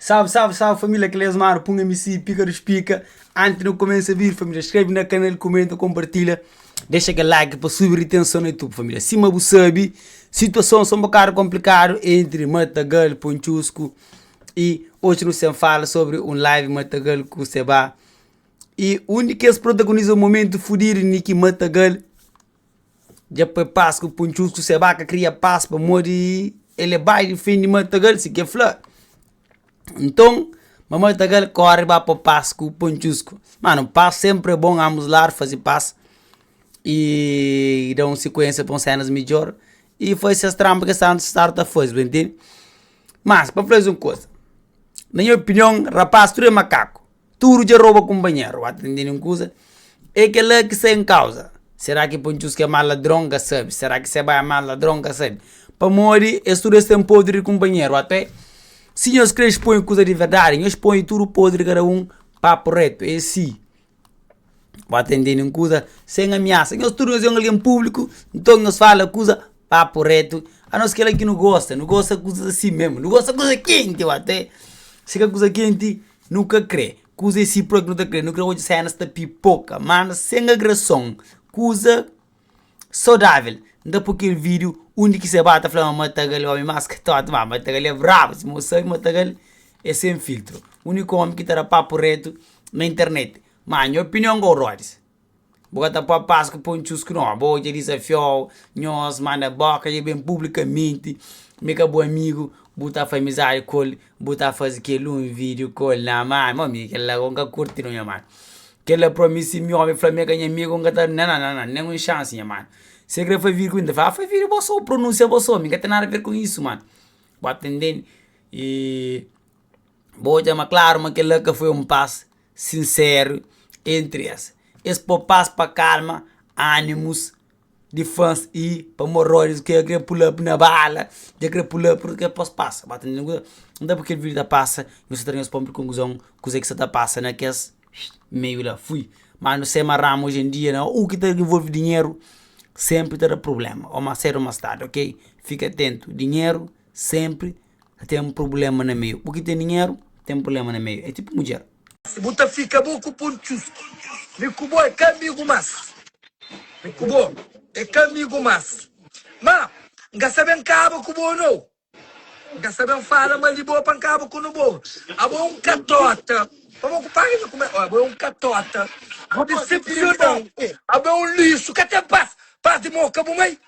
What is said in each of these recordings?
Salve salve salve família Cleus Maro Pum MC Pica dos Pica Antes de começar a vir família Escreve na canal, comenta, compartilha Deixa aquele like para subir a tensão no YouTube família Cima bu sabe, situação são um bocado complicado Entre Matagal, Ponchusco E hoje nós sem fala sobre um live Matagal com Seba E um de que protagonizam um momento fudido Niki Matagal Dja pa pas ku puntxustu se ba ka kria pas pamodi el é bai difende matagal, si ke fla. Nton, ma matagal kóre ba pa pas ku puntxustu. Mano, pas sénpri é bon, anbus ladu faze pas i da un sikuénsia pa un sénas midjór i faze ses tranba ki es sta interesadu ta faze, bu ta ntende. Má, pa fla-s un kuza, na nha opinion, rapás tudu é makaku. Tudu dja roba kunpanheru ba ta tende nen kuza É kela ki sta en kauza Será ki Pancus ki é más ladron ka sabe Será ki se bai é más ladron ka sabe Pamodi es tudu es ten podri di kunpanheru Até si nhos kre xponhe kuza di verdadi Nhos ponhe tudu podri kada un Papu retu é si Ba ta tende nen kuza Sen amiasa Nhos tudu nhos é un algen públiku Nton nhos fala kuza Papu retu Anos kela ki nu gosta Nu gosta kuzas asi memu Nu gosta kuza kenti Até si ka kuza kenti Nu ka kre kuza e si propi nu ta kre, nu kre odja senas ta pipoka manda sen agrason kuza sodavel n ta po kel video undi ki se ba ta fla ma matagal e omi mas katotu ma matagal e brabu sima u sabi matagal e sen filtro uniku omi ki ta da papu retu na internet ma nha opinion ka u rodis. Bu ka ta poi pas ku poi un txusku no Bo dja dizafiou nhos ma na boka dja ben publikamenti mi ka bu amigu Bu ta fai mizadi ku el Bu ta fazi kel un video ku el na man Mo mi kel la ku nka kurti no nha man Kel la pro mi si mi omi fla mi el ka nha amigu nka ta na na na na nen un shansi nha man Si el kre fai video ku mi nta fla fai video bo so pronunsia bo so mi nka ten nada ver ku isu man Bu atendeni i bo odja ma klaru ma kel la ka foi un pas. sinseru entri es. Es popa-s pa kalma animus di fans y pamorródius ki dja krê pula-b na bala, dja krê pula-b pur k'é pos pasa. Ba ta ntende kuzê? Nta bu kel vídiu ta pasa y nu sta ta tenta spô-m kel konkuzon kuzê ki sta ta pasa na kes meiu la. Fui. Má nu sai ma ramu oji en dia na u ki ta involve dinheru sénpri ta da prubléma, ô más sédu ô más tardi, ok? Fika atentu, dinheru sénpri. Ten problema na meiu. Bu ki ten dinheru ten problema na meiu. É tipu mudjer. Si bu ta fika bu ku pun txusku. Mi ku bo é ka amigu más. Mi ku bo é ka amigu más. Ma N ka sa ben kaba ku bo nau. N ka sa ben fala mal di bo pa N kaba ku nu bo. Abo é un katota. Pamó ku paga mi ku mé. Abo é un katota. Bu disepsiona-u. Abo é un lixu. Ka ten pas. Pas di mó ka bu mai.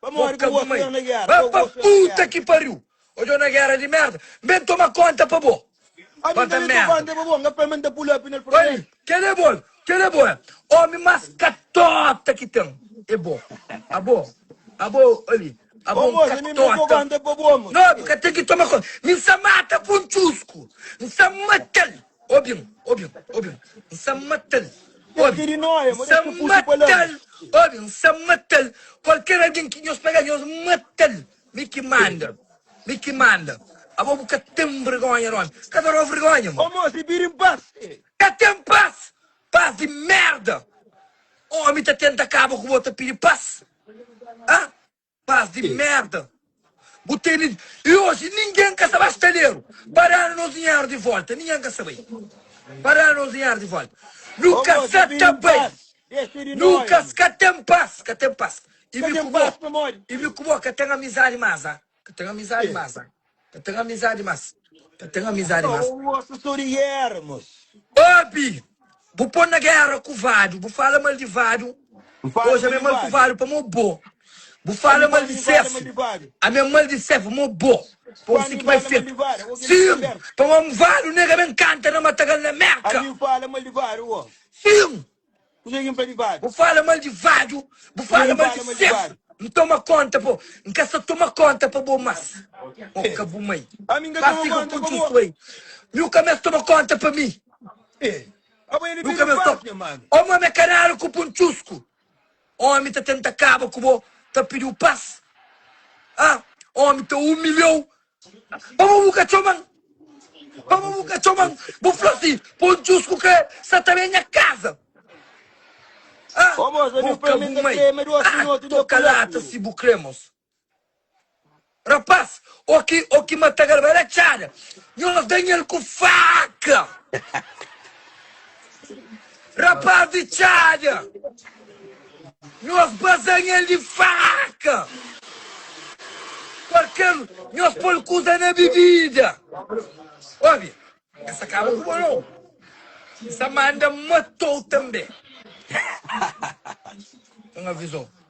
Pamodi ku bo sta na gera. Ba pa puta ki pariu. Odjo na gera di merda. N ben toma konta pa bo. Ami n ta ben toma konta pa bo. N ka fla ma n ta pull up na el. Pamodi kel é bo. Kel é bo é. Omi mas katota ki ten é bo. Abo. Abo ali. Abo un katota. Ô moza mi n ben toma konta pa bo. Nô bu ka ten ki toma konta. Mi n sa mata pa un txusku. N sa mata-l. Obi-m, obi-m, obi-m, N sa mata-l, obi, N sa mata-l, obi, N sa mata-l Kualker algen ki nhos pega-l, nhos mata-l Mi ki manda, mi ki manda Abo bu ka ten vergónha di ómi Ka ta da-u vergónha, ma Ka ten pas, pas di mérda Ómi ta tenta kaba ku bo, ta pidi pas, ah? Pas di merda bu teni e oji ninguém ka sa ba staleru pa danu nos dinheru di volta ninguém ka sa bai pa danu nos dinheru di volta nu ka sa ta bai nu ka ska tem pas ka tem pas e mi ku bo e mi ku bo ka tem amizadi mas a ka tem amizadi mas a. Ta ten amizadi mas. Ta ten amizadi mas. Sô osso sô di yermos. Obi! Bu pô-m na guerra ku vadu. Bu fala mal di vadu. N fala Oja mi é mal ku vadu pamo é bo. Bu fala mal di sefu. Ami é mal di sefu pamo é bo. Pa un siki mai fetu. Sim! Pamo é un vadu nega ben kanta na Matagal na Merka. Sim! Kuzê ki N fla di Vadu? Bu fala mal di Vadu, bu fala mal di Sefu. N toma kónta pa bo. N ka sta toma kónta pa bo más. Ô ka bu mai. Ba fika ku djusu ei. Miu ka meste toma kónta pa mi. Miu ka meste toma. Ô ma me kanal ku pun txusku. Ómi ta tenta kaba ku bo, ta pidi-u pas. Ha! Ómi ta umilha-u Pamodi bu ka txoman? Pamodi bu ka txoman? Bu fla si, Pô djus ku krê sa ta ben nha kaza. Ah, Ô mos, ami bu boka prende bu ta mai. krê, ma duas Ah, minutu dja toka lata kuleku. si bu krê mos. Rapás, ô ki, ô ki mata galba da txada, nhos danha-l ku faka. Rapaz di txada, nhos basanha-l di faka, kualker nhos pô-l kuza na bibida. Obi, N sa kaba ku bo nau, N sa manda mata-u tanbe. N aviza-u.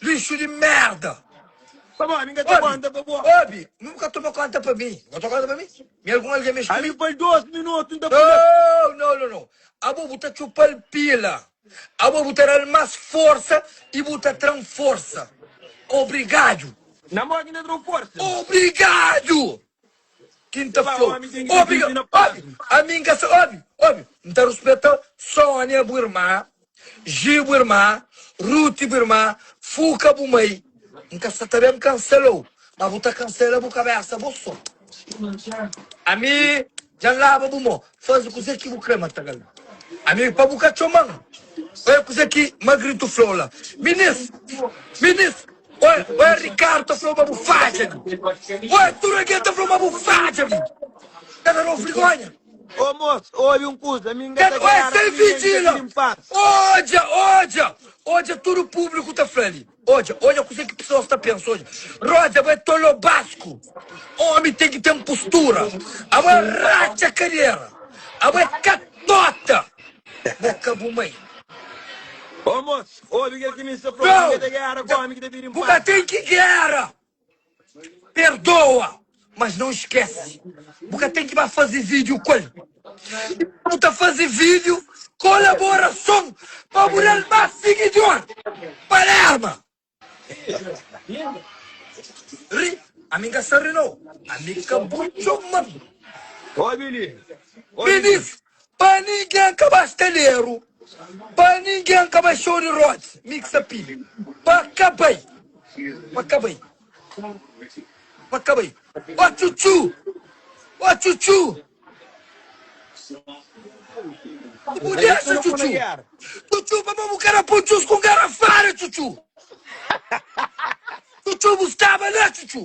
Lixu di merda. Pa bo, ami n ka ta konta pa bo. Obi, mi bu ka toma konta pa mi. Bu ka ta konta pa mi? Mi algun algen mexe ku mi? Ami pa-l dos minutu, n ta pula. Nau, nau, nau, nau. Abo bu ta txupa-l pila. Abo bu ta da-l mas forsa i bu ta tra-m forsa. Obrigadu. Na mó ki n ta tra-u forsa. Obrigadu! Ki n ta fla-u. Obi, ami n ka sa. Obi, obi, n ta ruspeta Sónia, bu irma. Ji bu irma, Ruti bu irma, Fuka bu mai, N ka sta ta ben kansela-u, ma bu ta kansela bu kabésa bo sô. Ami dja N laba bu mô, faze kuzê ki bu krê, ma ta kal. Ami pa bu ka txoma-m, oi kuzê ki Magritu fla-u la. Minis, minis, oi, oi Rikardu ta fla-u ma bu fadja li, oi tudu algen ta fla-u ma bu fadja li, ta da-u frigonha. Ô mos, obi un kuza, mi N ka ta Ten oja garanta sen ninhen, N ka vigila. kiri-m pas. Odja, odja, odja tudu públiku ta fla li. Odja, odja kuzê ki pesoas ta pensa, odja. Rodja abo é tolobasku. Ómi ten ki ten pustura. Abo é ratxa kadera. Abo é katota. Bo ka bu mai. Ô mos, obi kel ki mi sta fla-u, mi Nau, ka ta gera ku ómi ki ta pidi-m bu ka pas. ten ki gera. Perdoa, mas não esquece. Bu ka tem ki ba fazi vídeo ku el. E pa bu ta fazi vídeo, kolaborason pa bu dal más siguidor. Palerma. Ri? Ami n ka sta ri no. Ami ka bu txoma. Obi li. Obi li. Minis. Pa ningen ka ba staleru Pa ningen ka ba show di rods Mix appeal Pa ka bai Pa ka bai Pa ka bai Ó txutxu Ó txutxu Bu dexa txutxu Txutxu pa bo bu ka da pun txus ku ngarafada txutxu Txutxu bu staba la txutxu